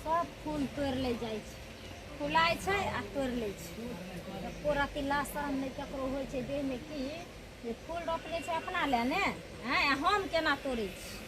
सब फूल तोड़ ले जाए फुलाए छै आ तोड़ ले पूरा तिल्ला शरम नहीं ककरो हो देह में की जे फूल रोपले छै अपना ले ने हैं हम केना तोड़े छी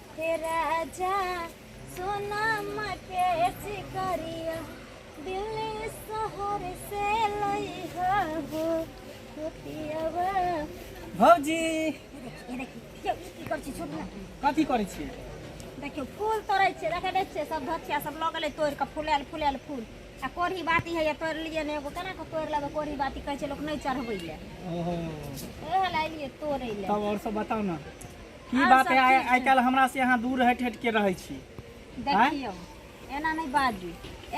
हे राजा सोना मके चिकरिया दिल्ली शहर से लई हो गोतियावा भौजी ये देखिए क्यों की कर छी छोड़ ना कथी करै छी देखियो फूल तोड़े छे देखे दे छे सब धथिया सब लगले तोड़ के फुलायल फुलायल फूल आ कोढ़ी बाती है ये तोड़ लिए ने एगो केना के तोड़ लेबे कोढ़ी बाती कहे छे लोग नहीं चढ़बै ले ओहो एहे ला लिए तोड़े ले तब और सब बताओ ना की बात है आइ आइ काल्हि हमरा से अहाँ दूर हटि हटि के रहै छी देखियौ एना नहि बाजू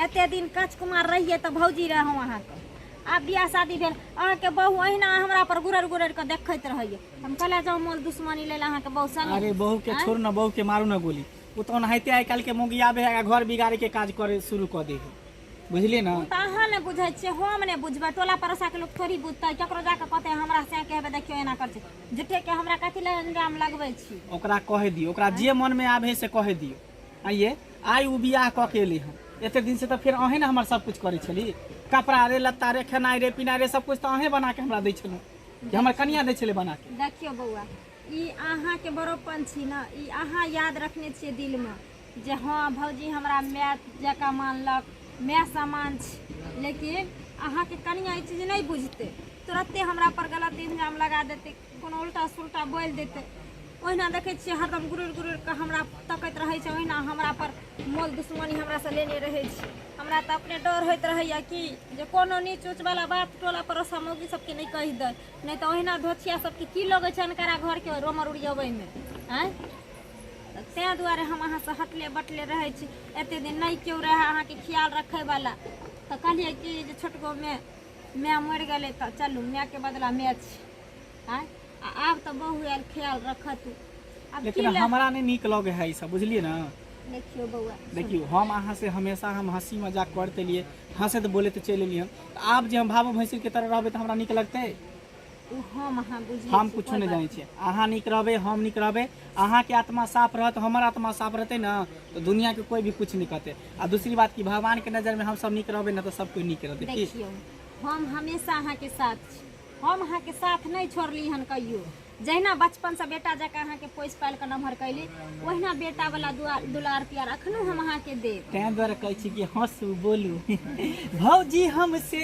एते दिन कच कुमार रहिए तऽ भौजी रहौ अहाँके आब बियाह शादी भेल अहाँके बहू अहिना हमरा पर गुरर गुरर के देखैत रहैए हम कहले जाउ मोल दुश्मनी लेल अहाँके बहू संग अरे बहू के छोड़ न बहू के मारू न गोली ओ तऽ ओनाहिते आइ काल्हि के मोगियाबे है आ घर बिगाड़े के काज करे शुरू कऽ दे है बुझलियै ने तऽ अहाँ ने बुझै छियै हम ने बुझबै टोला पड़ोसा के लोक थोड़ी बुझतै केकरो जाके कहतै हमरा से के हेबे देखियौ एना करतै झूठे के हमरा कथी लए अंजाम लगबै छी ओकरा कहे दियो ओकरा जे मन में आवे से कहे दियो आइए आइ उ बियाह क के एली हम एते दिन से तो फिर अहें ने हमर सब कुछ करे छली कपड़ा रे लत्ता रे खेनाई रे पिनाई रे सब कुछ तो अहें बना के हमरा दै छलू कि हमर कनिया दै छले बना के देखियो बौआ ई अहाँ के बड़ोपन छी ना ई अहाँ याद रखने छियै दिल में जे हँ भौजी हमरा माय जकाँ मानलक माय समान छी लेकिन अहाँके कनिया ई चीज नहि बुझतै तुरते हमरा पर गलत इल्जाम लगा देतै कोनो उल्टा सुल्टा बोलि देतै ओहिना देखै छियै हरदम गुरुर गुरुर कऽ हमरा तकैत रहै छै ओहिना हमरा पर मोल दुश्मनी हमरा से लेने रहै छै हमरा तऽ अपने डर होइत रहैया कि जे कोनो नीच उच वाला बात टोला पड़ोसा मौगी सबके नहि कहि दै नहि तऽ ओहिना धोथिया सबके की लगै छै अनकरा घरके रोमर उड़ियबैमे आँय तऽ ताहि दुआरे हम अहाँसँ हटले बटले रहै छी एतेक दिन नहि केओ रहए अहाँके ख्याल रखैवला तऽ कहलियै कि जे छोटकोमे माय मरि गेलै तऽ चलू मायके बदला माय छी आँय आ आब तऽ बहू आयल ख्याल रखत आब की लेकिन लए- हमरा नहि नीक लगे है ई सब बुझलियै ने देखियौ बौआ देखियौ हम अहाँ से हमेशा हम हंसी मजाक करते लिए हंसैत बोलैत चलि एलियै हन। तऽ आब जे हम भावो भैंसुर के तरह रहबै तऽ हमरा नीक लगतै ओ हम अहाँ बुझै हम छी, कुछो कोइ नहि बात जानै छियै अहाँ नीक रहबै हम नीक रहबै अहाँके आत्मा साफ रहत हमर आत्मा साफ रहतै ने तऽ दुनियाके कोइ भी कुछ नहि कहतै आ दूसरी बात कि भगवानके नजरमे हमसभ नीक रहबै ने तऽ सब कोइ नीक रहतै की देखियौ हम हमेशा अहाँके साथ छी हम अहाँके साथ नहि छोड़ली हन कहियो जहिना बचपनसँ बेटा जकाँ अहाँके पोसि पालि कऽ नमहर कैली ओहिना बेटावला दुआ- दुलार प्यार अखनो हम अहाँके देब ताहि दुआरे कहै छी कि हँसू बोलू भौजी हमसे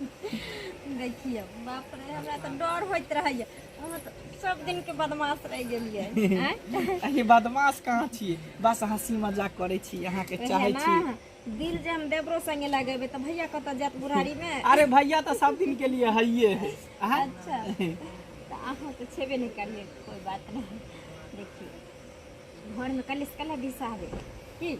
देखिए बाप रे हमरा तऽ डर होइत रहैए अहाँ तऽ सब दिन के बदमाश रह गेलिए अरे बदमाश कहाँ छी बस हंसी मजाक करे छी यहाँ के चाहे छी दिल जे हम देवरो संगे लगेबे त भैया कत जात बुढ़ारी में अरे भैया तो सब दिन के लिए हइये है अच्छा तो अहाँ तो छेबे नहीं करिए कोई बात नहीं देखिए घर में कलिस कला दिशा है की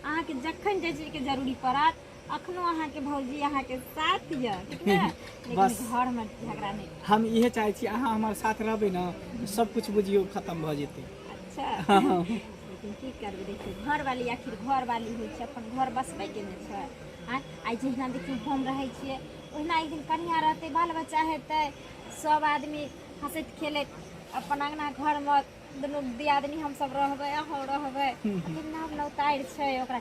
अहाँ के जखन जे चीज के जरूरी पड़त अखनो अहाँ के भौजी अहाँ के साथ ये ठीक ने लेकिन बस। घर में झगड़ा नहीं हम इहे चाहे छी अहाँ हमारे साथ रहबे ना तो सब कुछ बुझियो खत्म भ जेते अच्छा लेकिन की करबे देखियो घर वाली आखिर घर वाली होइ छै अपन घर बसबे के ने छै आँय? आइ जहिना देखियो हम रहै छियै ओहिना एक दिन कनिया रहतै बाल बच्चा हेतै सब आदमी हंसैत खेलैत अपन अंगना घर में दुनू दियादनी हमसब रहबै अहूँ रहबै लेकिन नाम नौतारि छै ओकरा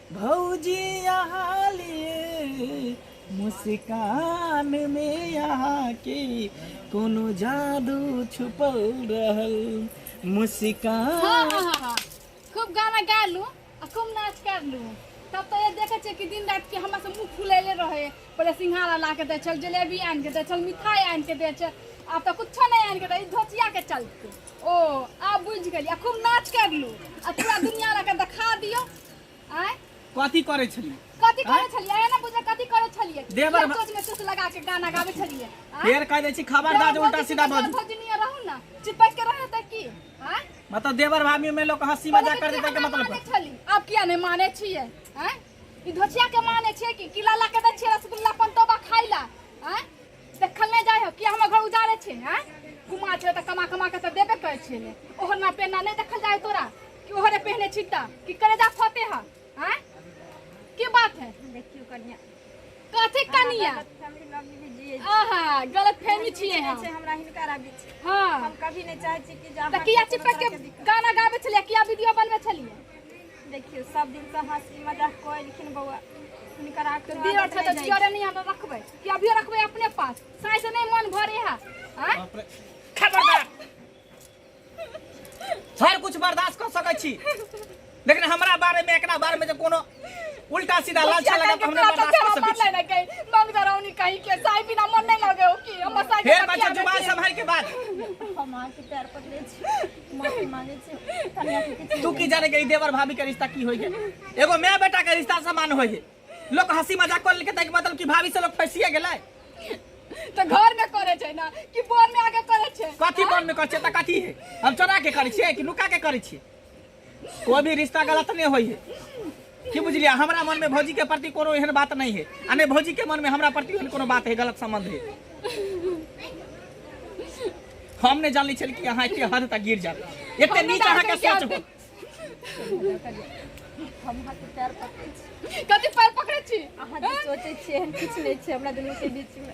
भौजी अहाँ लिए मुस्कान में यहाँ के कोनो जादू छुपल रहल हाँ मुस्कान हाँ हाँ हाँ खूब गाना गा लू आ खूब नाच कर लू तब तो ये देखे छे कि दिन रात के हमरा से मुंह फुलेले रहे पहले सिंघाड़ा ला के दे चल जलेबी आन के दे चल मिठाई आन के दे चल आब तो कुछो नहीं आन के दे ई धोतिया के चलते ओ आब बुझ गेली आ खूब नाच कर लू आ पूरा दुनिया ला के दिखा दियो आय कथी करै छलियै कथी करै छलियै एना बुझे कथी करै छलियै देवर भा- सोच में चुस लगा के गाना गाबै छलियै आय? फेर कह दै छी खबरदार जे उल्टा सीधा बन भौजनिया रहू ना चिपक के रहत है की आय मतलब देवर भाभी में लोग हंसी मजाक कर देते के मतलब माने का? छली आप किया नहीं माने छियै आय ई धोचिया के माने छियै कि किला ला के दै छियै रसगुल्ला पंतोबा खाइला आय देखल नहि जाइ हो किया हमर घर उजाड़े छै हैं कुमा छै तऽ कमा कमा के तऽ देबे करै छै ने ओहना पेना नहि देखल जाइ तोरा कि ओहरे पहने छी तऽ कि करे जा फते ह हैं की बात है देखियो कनिया कथी कनिया फैमिली लग भी जिए आहा गलत फहमी छियै हम छै हमरा हिनका राबी छै हाँ हम कभी नहीं चाहे छी कि जा तऽ किया चिपक के गाना गाबै छलियै किया वीडियो बनबै छलियै देखियो सब दिन से हंसी मजाक कोई लेकिन बौआ हुनकर आंख दियो छै तऽ जियो रे निया रखबै कि अभी रखबे अपने पास साई से नहीं मन भरे है आय? बाप रे। खबरदार हर कुछ बर्दाश्त कर सकै छी लेकिन हमरा बारे में एकरा बारे में जे कोनो उल्टा सीधा लालचा लगा तो हमरा बर्दाश्त कर सकै छी नहीं कहीं मंग दरौनी कहीं के साई बिना मन नहीं लगे हो कि हम साई फेर बच्चा जुबान संभाल के बात हम अहाँके पैर पकड़े छी माफी मांगे छी कन्या के किछु तू की जाने के ई देवर भाभी के रिश्ता की होई है एगो माय बेटा के रिश्ता समान होई है लोग हंसी मजाक कर लेके तक मतलब कि भाभी से लोग फंसिए गेलै तो घर में करे छै ना कि बोन में आके करे छै कथी मन में करै छै तऽ कथी है हम चोरा के करै छियै कि नुका के करै छियै कोई भी रिश्ता गलत नहीं होई है की बुझलियै हमरा मन में भौजी के प्रति कोनो एहन बात नहीं है आ नहि भौजी के मन में हमरा प्रति एहन कोनो बात है गलत संबंध है हम नहि जानले छल कि अहाँ एते हद तक गिर जाब एते नीच अहाँ के सोच हो हम हाथ पैर पकड़ै छी कथी पैर पकड़ै छी अहाँ जे सोचै छियै एहन किछु नहि छै हमरा दुनूके बीचमे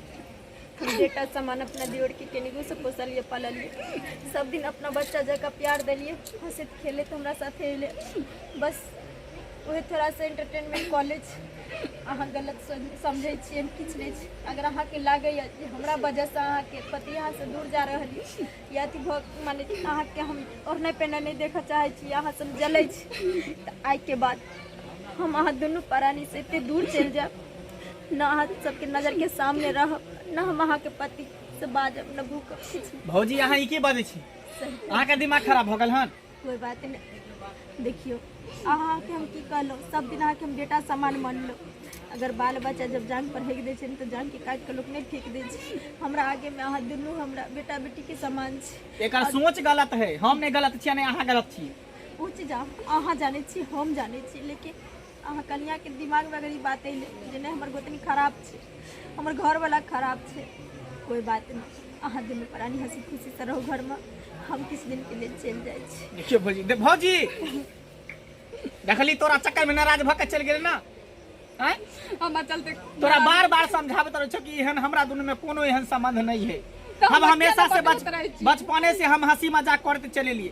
हम बेटा समान अपना दियोरके केनिगोसँ पोसलिए पाललिए सब दिन अपना बच्चा जकाँ प्यार देलिए हँसैत खेलैत हमरा साथे अयलै बस उहे थोड़ा सा एंटरटेनमेंट कॉलेज अहाँ गलत सम- समझै छियै एहन किछु नहि छै अगर अहाँके लागैए जे हमरा वजहसँ अहाँके पति अहाँसँ दूर जा रहल यऽ ई अथी भऽ माने अहाँके हम ओढ़नाइ पहिनाइ नहि देखऽ चाहै छी अहाँ सब जलै छी तऽ आइके बाद हम अहाँ दुनू परानी से एते दूर चलि जायब ने अहाँ सबके नजर के सामने रहब ने हम अहाँके पति से बाजब ने भूकब किछु भौजी अहाँ ई की बाजै छी अहाँके दिमाग खराब भऽ गेल हन कोई बात नहीं देखियो अहाँ के हम की कहलो सब दिन अहाँ के हम बेटा समान मानलो अगर बाल बच्चा जब जान पर हेक दे छै ने तऽ जान के काट के लोग नहीं फेंक दे छै हमरा आगे में अहाँ दुनू हमरा बेटा बेटी के समान छै एकर सोच गलत है हम नहीं गलत छियै नहीं अहाँ गलत छियै ओ चीज अहाँ अहाँ जानै छी हम जानै छी लेकिन अहाँ कनियाके दिमागमे अगर ई बात अइले जे नहि हमर गोतनी खराब छै हमर घरवला खराब छै कोइ बात नहि अहाँ दुनू प्राणी हँसी खुशीसँ रहू घरमे हम किछु दिनके लेल चलि जाइ छी देखियो भौजी दे- भौजी देखली तोरा चक्कर में नाराज भऽ के चलि गेल ना आँय? हमरा चलते तोरा बार बार समझाबैत रहै छौ कि एहन हमरा दुनू में कोनो एहन संबंध नहीं है तऽ हम हम हमेशा से बच्चा बच- रहै छी। बचपने से हम हंसी मजाक करते चले लिए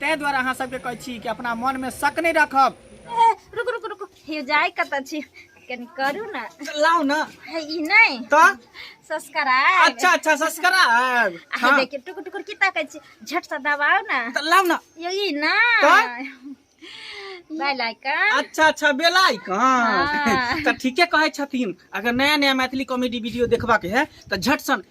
ताहि दुआरे अहाँ सबके कहै छी कि अपना मन में शक नहीं रखब ए, रुक रुक रुक हे जाय कतऽ छी कनी करू ने लाओ ना हे, ई नहि तो सस्कराय अच्छा अच्छा सब्सक्राइब अहाँ देखियौ टुकुर टुकुर की ताकै छी झट से दबाउ ने तो लाओ ना यो ई ने तऽ? बाय लाइकन अच्छा अच्छा बेलाई कहाँ हाँ। तऽ ठीके कहै छथिन अगर नया नया मैथिली कॉमेडी वीडियो देखबाक है तऽ झट सन